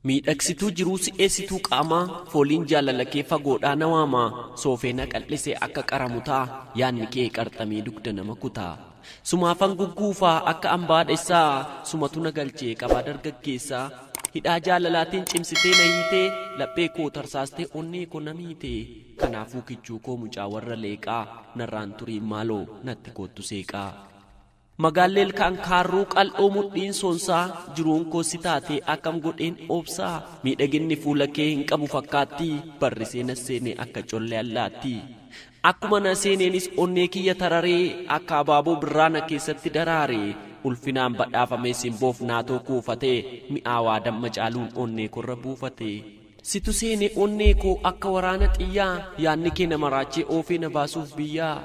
Miidhagsituu jiruu si'eessituu qaamaa Fooliin jaalalakee fagoodhaa na waama Soofee na qal'ise akka qara mutaa Yaanni kee qarxamee dugda nama kuta Sumaafan gugguufa akka ambaa dhessaa Sumatu na galche qabaa dargaggeessa Hidhaa jaalalaatiin cimsitee na hiite Laphee koo tarsaastee onnee ko na miite Kanaafuu kichuu koo mucaa warra leeqaa Narraan turiin maaloo natti koottu seeqaa. Magaallee ilkaan kaarruu qal'oo mudhiin soonsaa jiruun koo si taatee akkam godheen obsaa miidhaginni fuula kee hin qabu fakkaattii barrisee na seenee akka collee allaattii akkuma na seeneenis onnee kiyya tararee akka abaaboo birraa na keessatti daraaree ulfinaan badhaafamee simboof naatoo kuufatee mi'aawaa damma caaluun onnee korra buufatee. Situ seene onnee koo akka waraana xiyyaa Yaanni kee na maraachee oofee na baasuuf biyyaa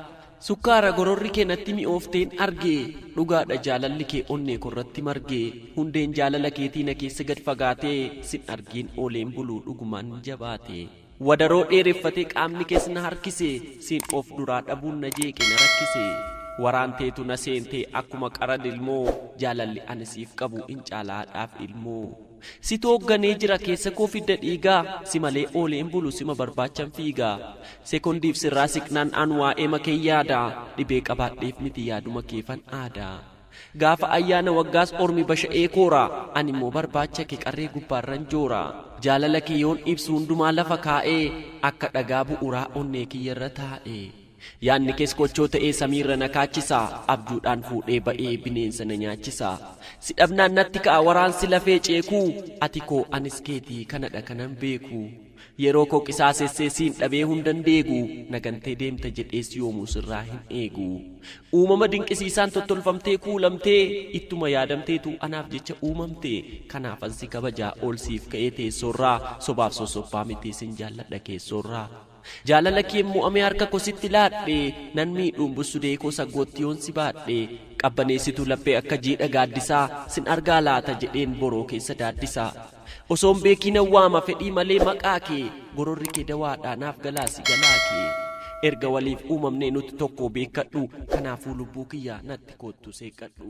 Sukkaara gororri kee natti mi'oofteen arge Dhugaadha jaalalli kee onnee koorratti marge Hundeen jaalala keetii na keessa gad fagaate Sin argeen ooleen bulu dhugumaan jabaate Wadaroo dheereffatee qaamni kees na harkise Sin of duraa dhabuun na jeeqe na rakkise Waraan teetu na seentee akkuma qara lilmoo Jaalalli ani siif qabu in caala haadhaaf ilmoo. Situ hoogganee jira keessa koo fidda dhiigaa Si malee oolee hin bulu sima barbaachan fiigaa Sekondiif sirraa siqnaan an waa'eema kee yaada Dhibee qabaadheef miti yaaduma keefan aada Gaafa ayyaana waggaas ormi basha'ee koora An immoo barbaacha kee qarree gubbaarran joora Jaalala kee yoon ibsu hundumaa lafa kaa'ee Akka dhagaa bu'uraa onnee kiyyarra taa'ee. Yaadni kees kochoo ta'ee samiirra na kaachisa Abjuudhaan fuudhee ba'ee bineensa na nyaachisa Si dhabnaan natti ka'a waraansi lafee ceeku Ati koo anis keeti kanadha kanan beeku Yeroo koo qisaasessee siin dhabee hundan deegu Na gantee deemta jedhees yoomuu sirraa hin eegu Uumama dinqisiisaan tottolfamtee kuulamtee Ittuma yaadamteetu anaaf jecha uumamte Kanaafan si kabaja ol siif ka'ee teessoorraa Sobaaf sossoppaa miti sin jaalladha keessoorraa. Jaalala keen mo'amee harka ko sitti laadhe Nan miidhuun bussudee koo saggootti yoon si baadhe Qabbaneessituu laphee akka jiidha gaaddisaa Sin argaa laata jedheen boroo keessa daaddisaa Osoon beekii nan waama fedhii malee maqaa kee Gororri kee dawaadhaa naaf galaa si jalaa kee Erga waliif uumamnee nuti tokkoo beekkadhu Kanaafuu lubbuu kiyya natti koottu seeqqadhu.